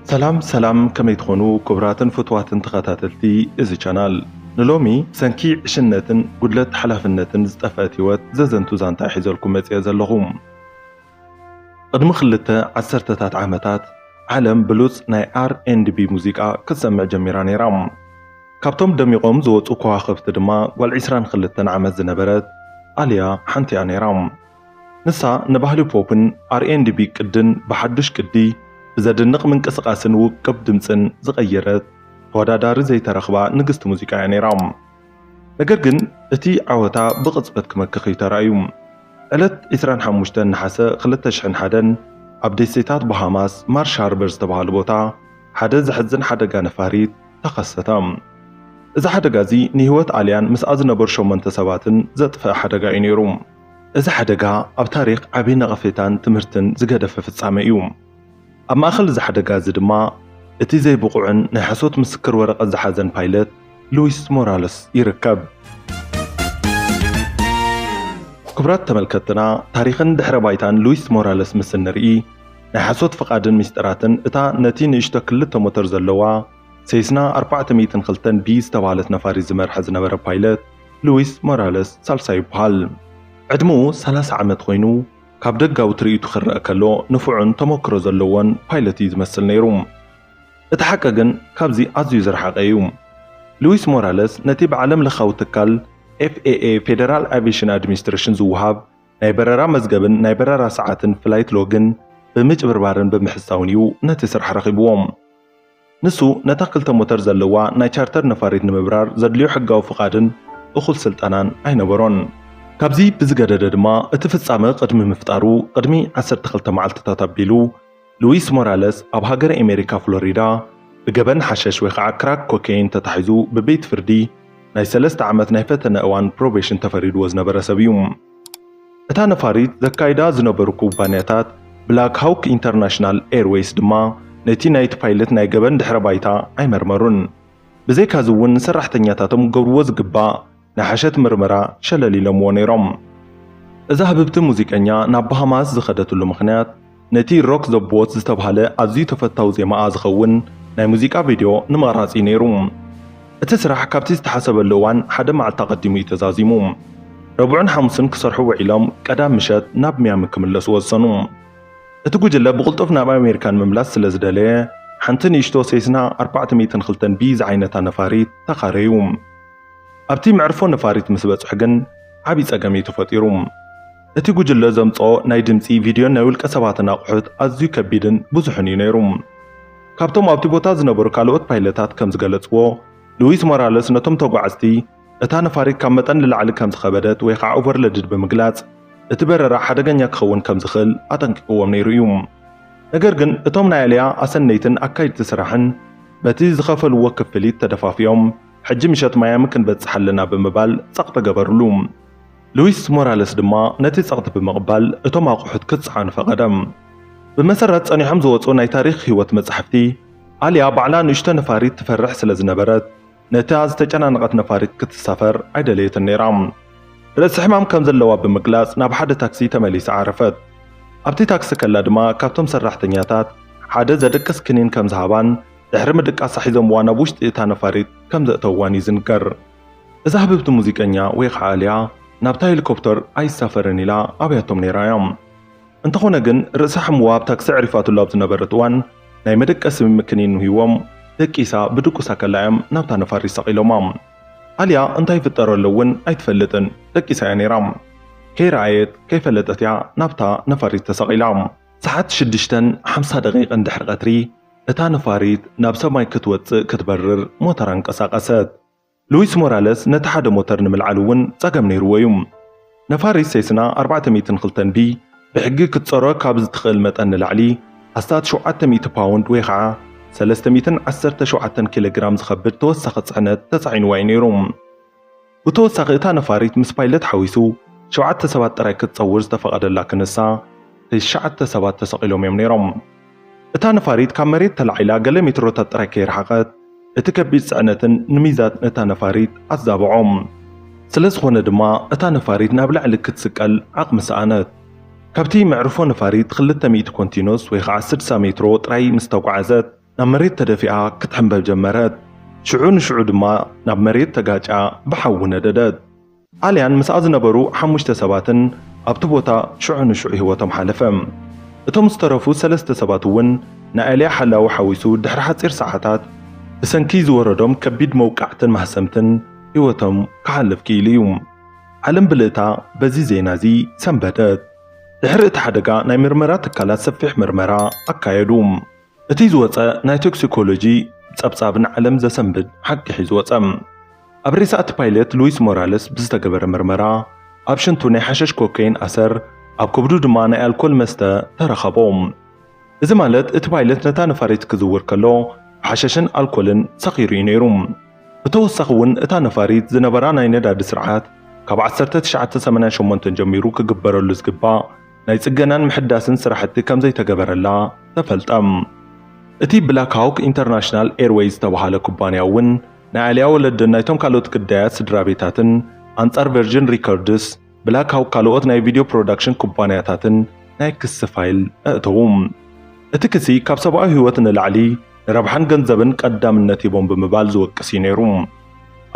ሰላም ሰላም ከመይ ትኾኑ ክቡራትን ፍትዋትን ተኸታተልቲ እዚ ቻናል ንሎሚ ብሰንኪ ዕሽነትን ጉድለት ሓላፍነትን ዝጠፍአት ህይወት ዘዘንቱ ዛንታ ሒዘልኩም መፅአ ዘለኹ ቅድሚ ክልተ ዓሰርተታት ዓመታት ዓለም ብሉፅ ናይ ኣር ኤንድ ቢ ሙዚቃ ክትሰምዕ ጀሚራ ነይራ ካብቶም ደሚቖም ዝወፁ ከዋኽብቲ ድማ ጓል 22 ዓመት ዝነበረት ኣልያ ሓንቲያ ነይራ ንሳ ንባህሊ ፖፕን ኣር ኤንድ ቢ ቅድን ብሓዱሽ ቅዲ፣ ብዘድንቕ ምንቅስቓስን ውቅብ ድምጽን ዝቐየረት፣ ተወዳዳሪ ዘይተረኽባ ንግስቲ ሙዚቃ እያ ነይራ። ነገር ግን እቲ ዓወታ ብቕጽበት ክመክኽ እዩ ተራእዩ። ዕለት ዕስራን ሓሙሽተን ነሓሰ ክልተ ሽሕን ሓደን፣ ኣብ ደሴታት ባሃማስ ማርሽ ሃርበር ዝተባህሉ ቦታ፣ ሓደ ዘሕዝን ሓደጋ ነፋሪት ተኸሰተ። እዚ ሓደጋ እዚ ንህይወት ኣልያን ምስኣ ዝነበሩ ሸሞንተ ሰባትን ዘጥፍኣ ሓደጋ እዩ ነይሩ። እዚ ሓደጋ ኣብ ታሪኽ ዓቢ ነቐፌታን ትምህርትን ዝገደፈ ፍጻመ እዩ። ኣብ ማእከል እዚ ሓደጋ እዚ ድማ እቲ ዘይብቑዕን ናይ ሓሶት ምስክር ወረቐት ዝሓዘን ፓይለት ሉዊስ ሞራለስ ይርከብ። ክቡራት ተመልከትትና ታሪኽን ድሕረ ባይታን ሉዊስ ሞራለስ ምስ እንርኢ ናይ ሓሶት ፍቓድን ሚስጥራትን እታ ነቲ ንእሽቶ ክልተ ሞተር ዘለዋ ሴስና ኣርባዕተ ሚእትን ክልተን ቢ ዝተባህለት ነፋሪት ዝመርሐ ዝነበረ ፓይለት ሉዊስ ሞራለስ ሳልሳይ ይበሃል። ዕድመኡ ሰላሳ ዓመት ኮይኑ፣ ካብ ደጋዊ ትርኢቱ ክረኣ ከሎ ንፉዕን ተመክሮ ዘለዎን ፓይለት እዩ ዝመስል ነይሩ። እቲ ሓቂ ግን ካብዚ ኣዝዩ ዝረሓቐ እዩ። ሉዊስ ሞራለስ ነቲ ብዓለምለኻዊ ትካል FAA፣ ፌደራል ኣቪየሽን ኣድሚኒስትሬሽን፣ ዝወሃብ ናይ በረራ መዝገብን ናይ በረራ ሰዓትን፣ ፍላይት ሎግን፣ ብምጭብርባርን ብምሕሳውን እዩ ነቲ ስራሕ ረኺብዎ። ንሱ ነታ ክልተ ሞተር ዘለዋ ናይ ቻርተር ነፋሪት ንምብራር ዘድልዮ ሕጋዊ ፍቓድን እኹል ስልጠናን ኣይነበሮን። ካብዚ ብዝገደደ ድማ እቲ ፍጻመ ቅድሚ ምፍጣሩ ቅድሚ ዓሰርተ ክልተ መዓልትታት ኣቢሉ ሉዊስ ሞራለስ ኣብ ሃገረ ኤሜሪካ ፍሎሪዳ ብገበን ሓሸሽ ወይ ኸዓ ክራክ ኮኬይን ተታሒዙ ብቤት ፍርዲ ናይ ሰለስተ ዓመት ናይ ፈተነ እዋን ፕሮቤሽን ተፈሪድዎ ዝነበረ ሰብ እዩ። እታ ነፋሪት ዘካይዳ ዝነበሩ ኩባንያታት ብላክ ሃውክ ኢንተርናሽናል ኤርዌይስ ድማ ነቲ ናይቲ ፓይለት ናይ ገበን ድሕረ ባይታ ኣይመርመሩን። ብዘይካዚ እውን ንሰራሕተኛታቶም ክገብርዎ ዝግባእ ናይ ሓሸት ምርመራ ሸለል ኢሎምዎ ነይሮም። እዛ ህብብቲ ሙዚቀኛ ናብ ባሃማስ ዝኸደትሉ ምኽንያት፣ ነቲ ሮክ ዘ ቦት ዝተብሃለ ኣዝዩ ተፈታዊ ዜማኣ ዝኸውን ናይ ሙዚቃ ቪድዮ ንምቕራጽ እዩ ነይሩ። እቲ ስራሕ ካብቲ ዝተሓሰበሉ እዋን ሓደ መዓልቲ ኣቐዲሙ እዩ ተዛዚሙ። ረቡዕን ሓሙስን ክሰርሑ ውዒሎም ቀዳም ምሸት ናብ ሚያሚ ክምለሱ ወሰኑ። እቲ ጉጅለ ብቕልጡፍ ናብ ኣሜሪካ ንምምላስ ስለ ዝደለየ ሓንቲ ንእሽቶ ሴስና ኣርባዕተ ሚእትን ክልተን ቢ ዝዓይነታ ነፋሪት ተኻረዩ። ኣብቲ መዕርፎ ነፋሪት ምስ በጽሑ ግን ዓቢ ጸገም እዩ ተፈጢሩ። እቲ ጉጅለ ዘምጽኦ ናይ ድምጺ፣ ቪድዮን ናይ ውልቀ ሰባትን ኣቑሑት ኣዝዩ ከቢድን ብዙሕን እዩ ነይሩ። ካብቶም ኣብቲ ቦታ ዝነበሩ ካልኦት ፓይለታት ከም ዝገለጽዎ፣ ሉዊስ ሞራለስ ነቶም ተጓዓዝቲ እታ ነፋሪት ካብ መጠን ንላዕሊ ከም ዝኸበደት ወይ ኸኣ ኦቨርለድድ ብምግላጽ እቲ በረራ ሓደገኛ ክኸውን ከም ዝኽእል ኣጠንቂቕዎም ነይሩ እዩ። ነገር ግን እቶም ናይ ኣልያ ኣሰነይትን ኣካይድቲ ስራሕን በቲ ዝኸፈልዎ ክፍሊት ተደፋፊኦም ሕጂ ምሸት ማያሚ ክንበጽሕ ኣለና ብምባል ጸቕጢ ገበርሉ። ሉዊስ ሞራለስ ድማ ነቲ ጸቕጢ ብምቕባል እቶም ኣቑሑት ክጸዓኑ ፈቐደ። ብመሰረት ጸኒሖም ዝወጹ ናይ ታሪኽ ህይወት መጻሕፍቲ፣ ኣልያ ባዕላ ንእሽቶ ነፋሪት ትፈርሕ ስለ ዝነበረት ነታ ዝተጨናነቐት ነፋሪት ክትሳፈር ኣይደለየትን ነይራ። ርእሲ ሕማም ከም ዘለዋ ብምግላጽ ናብ ሓደ ታክሲ ተመሊሳ ዓረፈት። ኣብቲ ታክሲ ከላ ድማ ካብቶም ሰራሕተኛታት ሓደ ዘደቅስ ክኒን ከም ዝሃባን ድሕሪ ምድቃሳ ሒዞምዋ ናብ ውሽጢ እታ ነፋሪት ከም ዘእተውዋን እዩ ዝንገር። እዛ ህብብቲ ሙዚቀኛ ወይ ኸዓ ኣልያ ናብታ ሄሊኮፕተር ኣይሳፈርን ኢላ ኣብያቶም ነይራ እያ። እንተኾነ ግን ርእሳ ሕሙዋ ኣብ ታክሲ ኣዕሪፋትሉ ኣብ ዝነበረት እዋን ናይ መደቀሲ ምክኒን ንሂዎም ደቂሳ ብድቁሳ ከላ እዮም ናብታ ነፋሪት ሰቒሎማ። ኣልያ እንታይ ይፍጠረሎ እውን ኣይትፈልጥን ደቂሳ እያ ነይራ። ከይረኣየት ከይፈለጠት እያ ናብታ ነፋሪት ተሰቒላ። ሰዓት ሽዱሽተን ሓምሳ ደቒቕን ድሕሪ ቀትሪ እታ ነፋሪት ናብ ሰማይ ክትወጽእ ክትበርር ሞተራ ኣንቀሳቐሰት። ሉዊስ ሞራለስ ነቲ ሓደ ሞተር ንምልዓል እውን ጸገም ነይርዎ እዩ። ነፋሪት ሴስና ኣርባዕተ ሚእትን ክልተን ቢ ብሕጊ ክትጸሮ ካብ ዝትኽእል መጠን ንላዕሊ ኣስታት ሸውዓተ ሚእቲ ፓውንድ ወይ ኸዓ ሰለስተ ሚእትን ዓሰርተ ሸውዓተን ኪሎግራም ዝኸብድ ተወሳኺ ጽዕነት ተጻዒንዋ እዩ ነይሩ። ብተወሳኺ እታ ነፋሪት ምስ ፓይለት ሓዊሱ ሸውዓተ ሰባት ጥራይ ክትጸውር ዝተፈቐደላ ክንሳ፣ ትሽዓተ ሰባት ተሰቒሎም እዮም ነይሮም። እታ ነፋሪት ካብ መሬት ተላዒላ ገለ ሜትሮታት ጥራይ ከይረሓቐት፣ እቲ ከቢድ ጽዕነትን ንሚዛት እታ ነፋሪት ኣዛብዖ። ስለዝኾነ ድማ እታ ነፋሪት ናብ ላዕሊ ክትስቀል ዓቕሚ ሰኣነት። ካብቲ መዕርፎ ነፋሪት ክልተ ሚእቲ ኮንቲኖስ ወይ ኸኣ ስድሳ ሜትሮ ጥራይ ምስ ተጓዓዘት፣ ናብ መሬት ተደፊኣ ክትሕምበብ ጀመረት። ሽዑ ንሽዑ ድማ ናብ መሬት ተጋጭያ ብሓዊ ነደደት። ኣልያን ምስኣ ዝነበሩ ሓሙሽተ ሰባትን ኣብቲ ቦታ ሽዑ ንሽዑ ህይወቶም ሓለፈ። እቶም ዝተረፉ ሰለስተ ሰባት እውን ንኣልያ ሓላዊ ሓዊሱ ድሕሪ ሓጺር ሰዓታት ብሰንኪ ዝወረዶም ከቢድ መውቃዕትን ማህሰምትን ህይወቶም ክሓልፍ ክኢሉ እዩ። ዓለም ብልእታ በዚ ዜና እዚ ሰንበደት። ድሕሪ እቲ ሓደጋ ናይ ምርመራ ትካላት ሰፊሕ ምርመራ ኣካየዱ። እቲ ዝወጸ ናይ ቶክሲኮሎጂ ጸብጻብ ንዓለም ዘሰንብድ ሓቂ ሒዙ ወጸ። ኣብ ሬሳ እቲ ፓይለት ሉዊስ ሞራለስ ብዝተገበረ ምርመራ፣ ኣብ ሽንቱ ናይ ሓሸሽ ኮከይን ኣሰር፣ ኣብ ከብዱ ድማ ናይ ኣልኮል መስተ ተረኸቦ። እዚ ማለት እቲ ፓይለት ነታ ነፋሪት ክዝውር ከሎ ብሓሸሽን ኣልኮልን ሰኺሩ እዩ ነይሩ። ብተወሳኺ እውን እታ ነፋሪት ዝነበራ ናይ ነዳዲ ስርዓት ካብ ዓሰርተ ትሽዓተ ሰማንያ ሸሞንተ ጀሚሩ ክግበረሉ ዝግባእ ናይ ጽገናን ምሕዳስን ስራሕቲ ከምዘይተገበረላ ተፈልጠ። እቲ ብላክ ሃውክ ኢንተርናሽናል ኤርወይዝ ዝተብሃለ ኩባንያ እውን ናይ ኣሊያ ወለድን ናይቶም ካልኦት ግዳያት ስድራቤታትን ኣንጻር ቨርጅን ሪከርድስ፣ ብላክ ሃውክ ካልኦት ናይ ቪድዮ ፕሮዳክሽን ኩባንያታትን ናይ ክሲ ፋይል ኣእተዉ። እቲ ክሲ ካብ ሰብኣዊ ህይወት ንላዕሊ ንረብሓን ገንዘብን ቀዳምነት ሂቦም ብምባል ዝወቅስ እዩ ነይሩ።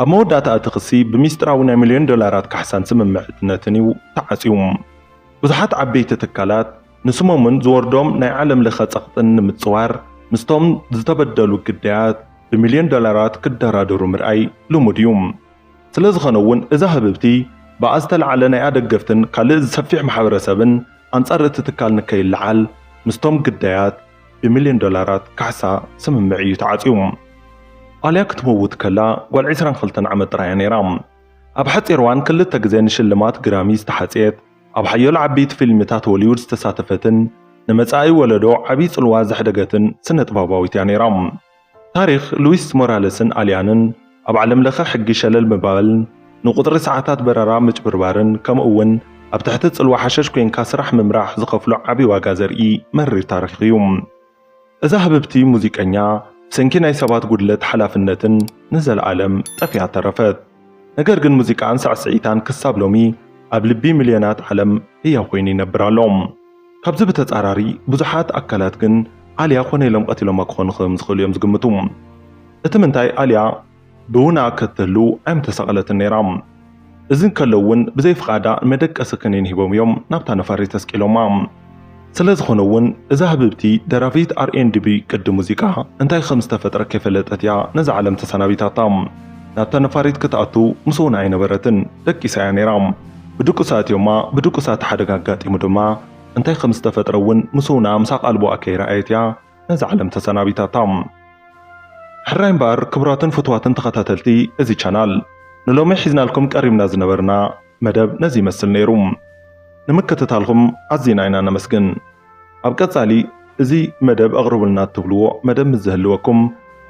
ኣብ መወዳእታ እቲ ክሲ ብሚስጥራዊ ናይ ሚልዮን ዶላራት ካሕሳን ስምምዕትነትን እዩ ተዓጽዩ። ብዙሓት ዓበይቲ ትካላት ንስሞምን ዝወርዶም ናይ ዓለም ለኸ ጸቕጥን ንምጽዋር ምስቶም ዝተበደሉ ግዳያት ብሚልዮን ዶላራት ክደራደሩ ምርኣይ ልሙድ እዩ። ስለዝኸነ'ውን እዛ ህብብቲ ብኣ ዝተለዓለ ናይ ኣደገፍትን ካልእ ዝሰፊሕ ማሕበረሰብን ኣንጻር እቲ ትካል ንከይለዓል ምስቶም ግዳያት ብሚልዮን ዶላራት ካሕሳ ስምምዕ እዩ ተዓጽዩ። ኣልያ ክትመውት ከላ ጓል ዕስራን ክልተን ዓመት ጥራይ እያ ነይራ። ኣብ ሓጺር እዋን ክልተ ግዜ ንሽልማት ግራሚ ዝተሓጽየት፣ ኣብ ሓያሎ ዓበይቲ ፊልምታት ሆሊውድ ዝተሳተፈትን ንመጻኢ ወለዶ ዓቢ ጽልዋ ዘሕደገትን ስነጥበባዊት እያ ነይራ። ታሪኽ ሉዊስ ሞራለስን ኣልያንን ኣብ ዓለምለኸ ሕጊ ሸለል ምባልን ንቁጽሪ ሰዓታት በረራ ምጭብርባርን ከምኡ'ውን ኣብ ትሕቲ ጽልዋ ሓሸሽ ኮይንካ ስራሕ ምምራሕ ዝኸፍሎ ዓቢ ዋጋ ዘርኢ መሪር ታሪኽ እዩ። እዛ ህብብቲ ሙዚቀኛ ብሰንኪ ናይ ሰባት ጉድለት ሓላፍነትን ንዘለኣለም ጠፊኣ ተረፈት። ነገር ግን ሙዚቃኣን ሳዕስዒታን ክሳብ ሎሚ ኣብ ልቢ ሚልዮናት ዓለም ህያው ኮይኑ ይነብር ኣሎ። ካብዚ ብተጻራሪ ብዙሓት ኣካላት ግን ኣልያ ኮነ ኢሎም ቀቲሎማ ክኾኑ ከምዝኽእሉ እዮም ዝግምቱ። እቲ ምንታይ ኣልያ ብውና ከትህሉ ኣይምተሰቐለትን ነይራ። እዚ እንከሎ እውን ብዘይ ፍቓዳ ንመደቀሲ ከኒን ሂቦም እዮም ናብታ ነፋሪት ኣስቂሎማ። ስለ ዝኾነ እውን እዛ ህብብቲ ደራፊት ኣር ኤንድ ቢ ቅዲ ሙዚቃ እንታይ ከም ዝተፈጥረ ከይፈለጠት እያ ነዛ ዓለም ተሰናቢታታ። ናብታ ነፋሪት ክትኣቱ ምስ ውና ኣይነበረትን፣ ደቂሳ እያ ነይራ። ብድቁሳ ኣእትዮማ፣ ብድቁሳ እቲ ሓደጋ ኣጋጢሙ ድማ እንታይ ከም ዝተፈጥረ እውን ምስ ውና ምስ ኣቓልቦኣ ከይረኣየት እያ ነዛ ዓለም ተሰናቢታታ። ሕራይ እምበኣር ክቡራትን ፍቱዋትን ተኸታተልቲ እዚ ቻናል ንሎሚ ሒዝናልኩም ቀሪብና ዝነበርና መደብ ነዚ ይመስል ነይሩ። ንምክትታልኹም ኣዚና ኢና ነመስግን። ኣብ ቀጻሊ እዚ መደብ ኣቕርቡልና እትብልዎ መደብ ምስ ዝህልወኩም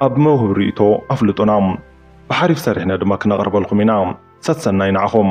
ኣብ መውህብ ርእይቶ ኣፍልጡና። ብሓሪፍ ሰሪሕና ድማ ክነቕርበልኩም ኢና። ሰሰናዩ ንዓኹም።